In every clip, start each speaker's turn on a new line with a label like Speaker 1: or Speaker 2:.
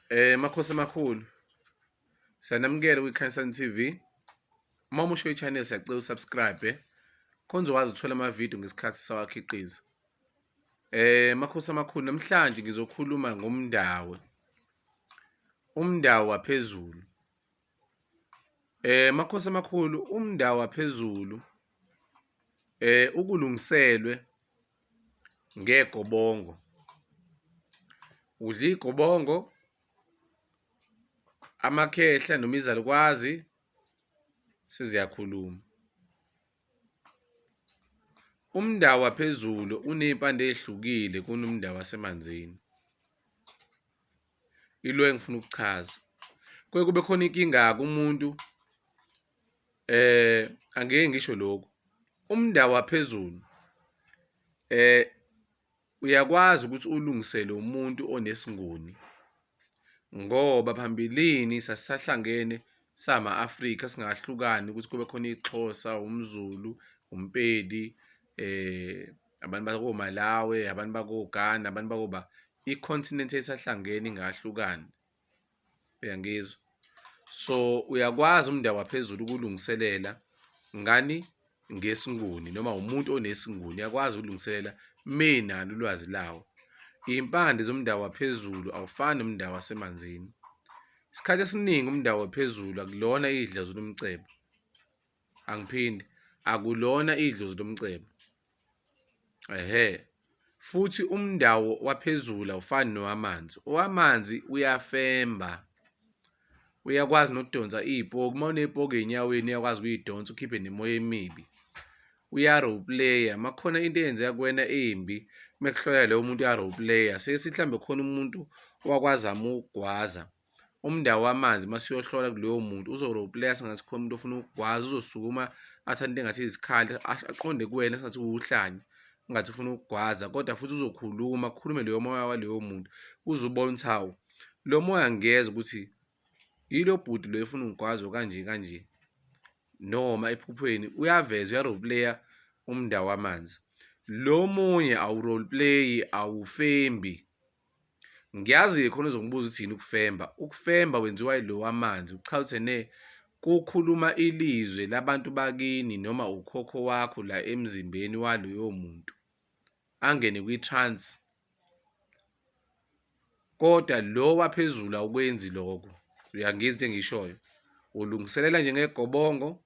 Speaker 1: Eh makhosi amakhulu. Siyanamukela kwiKhansan TV. Uma umusho ichannel siyacela usubscribe eh. khona uzokwazi ukuthola amavidiyo ngesikhathi sawakhiqiza. Eh makhosi amakhulu namhlanje ngizokhuluma ngomndawe. Umndawo waphezulu. Eh makhosi amakhulu umndawo waphezulu eh ukulungiselwe ngegobongo udla igobongo amakhehla noma izalukwazi seziyakhuluma umndawo waphezulu uney'mpande ey'hlukile kunomndawo wasemanzini ilo engifuna ukuchaza kuye kube khona inkinga-ke umuntu eh angeke ngisho lokho umndawo waphezulu eh uyakwazi ukuthi ulungisele umuntu onesingoni ngoba phambilini sasisahlangene sama Afrika singahlukani ukuthi kube khona ixhosa umzulu umpedi eh abantu bako Malawi abantu bako Ghana abantu bako ba icontinent esahlangene ingahlukani uyangizwa so uyakwazi umndeni waphezulu ukulungiselela ngani ngesinguni noma umuntu onesinguni uyakwazi ukulungiselela menalo ulwazi lawo impande zomndeni waphezulu awufani nomndeni wasemanzini isikhathi esiningi umndeni waphezulu akulona idlazu lomcebo angiphindi akulona idlozi lomcebo ehe futhi umndawo waphezulu awufani nowamanzi owamanzi uyafemba uyakwazi nokudonsa iy'poki uma uney'poki ey'nyaweni uyakwazi ukuyidonsa ukhiphe nemoya emibi uya-roleplayer uma kukhona into eyenzeka kuwena embi uma kuhloya lowo muntu uya-roleplayer sesithi mhlawumbe khona umuntu owakwazama ukugwaza umndawo wamanzi uma siyohlola kuloyo muntu uzo-roleplaya sengathi khona umuntu ofuna ukugwaza uzosukuma athanda into engathi izikhali aqonde kuwena sengathi uwuhlanya ungathi ufuna ukugwaza kodwa futhi uzokhuluma akhulume leyo moya waleyo muntu uze ubone ukuthi hawu lo moya ngiyeza ukuthi yilo bhuti lo efuna ungigwazo kanje kanje noma ephuphweni uyaveza uyaroleplaya umndawo wamanzi lo munye awuroleplayi awufembi Ngiyazi-ke khona uzongibuza ukuthi yini ukufemba. Ukufemba wenziwa yilo wamanzi, kuchaza ukuthi ene kukhuluma ilizwe labantu bakini noma ukhokho wakho la emzimbeni waloyo muntu angene kwi-trans kodwa lo waphezulu awukwenzi lokho uyangizwa into engishoyo ulungiselela nje ngegobongo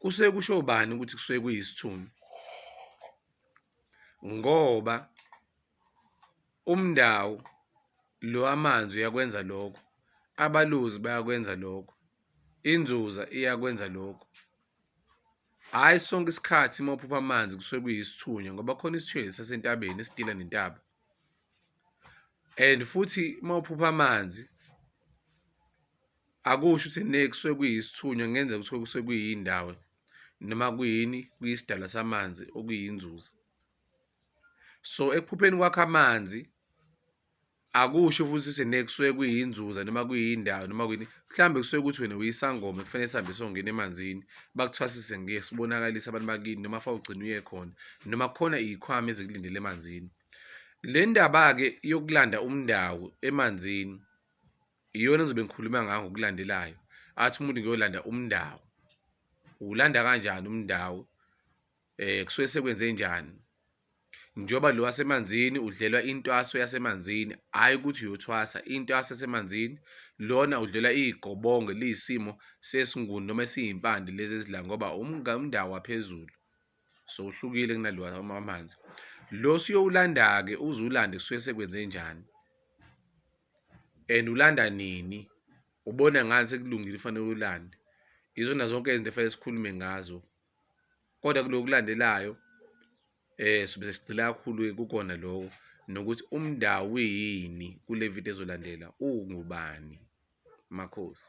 Speaker 1: kusuke kusho bani ukuthi kusuke kuyisithunzi ngoba umndawo lo amanzi uyakwenza lokho abaluzi bayakwenza lokho inzuza iyakwenza lokho hhayi sonke isikhathi uma uphupha amanzi kusuke kuyisithunywa ngoba khona isithunzi sasentabeni esidila nentaba and futhi uma uphupha amanzi Akusho ukuthi ne kusuke kuyisithunywa kungenzeka ukuthi kusuke kuyindawo noma kuyini kuyisidala samanzi okuyinzuza. So ekuphupheni kwakho amanzi akusho futhi ukuthi ne kusuke kuyinzuza noma kuyindawo noma kuyini mhlawumbe kusuke ukuthi wena uyisangoma kufanele sihambe songena emanzini bakuthwasise ngeke sibonakalise abantu bakini noma fa ugcina uye khona noma kukhona iy'khwama ezikulindele emanzini le ndaba-ke yokulanda umndawo emanzini iyona engizobe ngikhuluma ngayo ngokulandelayo athi umuntu ngiyolanda umndawo uwulanda kanjani umndawo eh kusuke sekwenze njani njengoba lo wasemanzini udlelwa intwaso yasemanzini hhayi ukuthi uyothwasa intwaso yasemanzini lona udlelwa iy'gobonge liyisimo sesinguni noma esiyimpande lezi ezidla ngoba umndawo waphezulu so uhlukile kunalo wamanzi lo siyowulanda-ke uze ulande kusuke sekwenze njani and ulanda nini ubona ngani sekulungile ufanele ulande izona zonke izinto efanele sikhulume ngazo kodwa kulokulandelayo eh sobe sesigcila kakhulu kukona lokho nokuthi umndawo yini kule video ezolandela ungubani makhosi